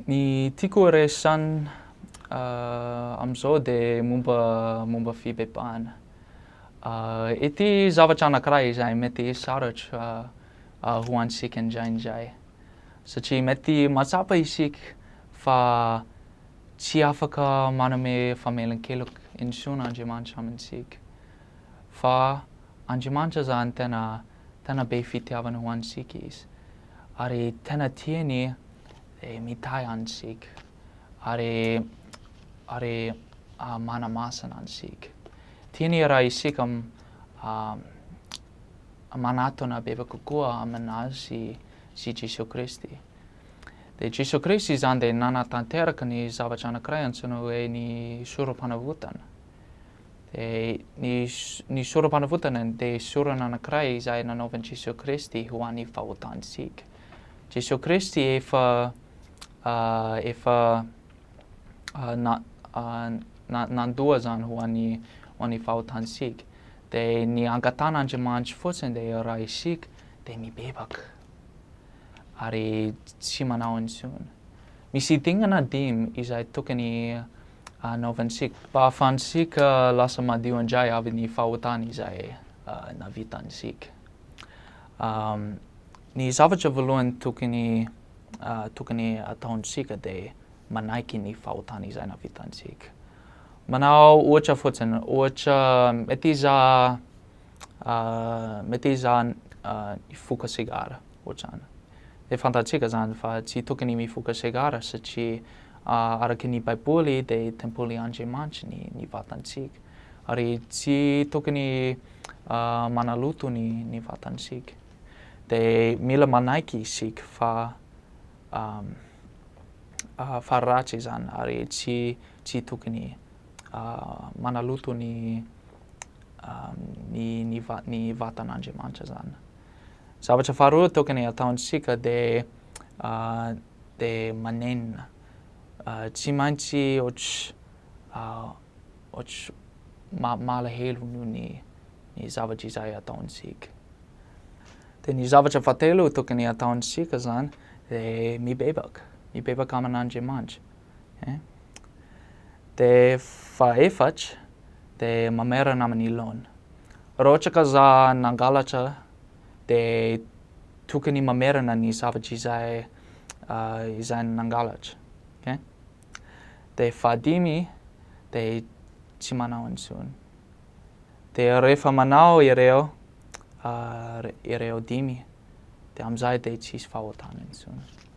Ny tiako horesahina amin'izao dia momba momba fibebahana. Ity zavatra anankiray izay mety hisaratra ho antsika indraindray. Satria mety mahatsapa isika fa tsy afaka manome famelan-keloka intsony Andriamanitra amintsika. Fa Andriamanitra izany tena tena be fitiavana ho antsika izy. ary tena tiany eh, mitahy antsika ary ary ah, manamasina antsika. Tiany raha isika ah, manatona bebe kokoa aminazy sy Jesoa Kristy. Dia Jesoa Kristy izany dia nanatanteraka ny zavatra anankiray antsoina hoe ny sorom-panavotana. Dia ny sorom-panavotana dia sorona anankiray izay nanaovan'i Jesoa Kristy ho an'ny vahoakantsika. Jesoa Kristy efa efa na na nandoa izany ho an'ny ho an'ny vahoakantsika. Dia ny angatan'Andriamanitra fotsiny dia raha isika dia mibebaka ary tsy manao intsony. Misy dingana dimy izay tokony anaovantsika. Mba ahafahantsika lasa madio indray avy ny fahotana izay navitantsika. Ny zavatra voalohany tokony tokony ataontsika dia manaiky ny fahotana izay navitantsika. Manao ohatra fotsiny, ohatra mety izaho mety izaho nifoka sigara. Ohatrany. Dia fantatsika izany fa tsy tokony mifoka segara satria araka ny Baiboly dia tempoly Andriamanitra ny ny vatantsika. Ary tsy tokony manaloto ny ny vatantsika. Dia mila manaiky isika fa fa ratsy izany ary tsy tsy tokony manaloto ny ny ny va- ny vatan'Andriamanitra izany. Zavatra faharoa tokony ataontsika dia dia manenina. Tsy maintsy ohatry ohatry ma- malahelo noho ny ny zavatra izay ataontsika. Dia ny zavatra fahatelo tokony ataontsika izany dia mibebaka, mibebaka aman'Andriamanitra. eh. Dia fahefatra dia mamerana amin'ny laona. Raha ohatra ka za nangalatra dia tokony mamerana ny zavatra izay izay nangalatra eh. Dia fahadimy dia tsy manao intsony. Dia rehefa manao ireo ireo dimy dia amin'izay dia tsisy fahotana intsony.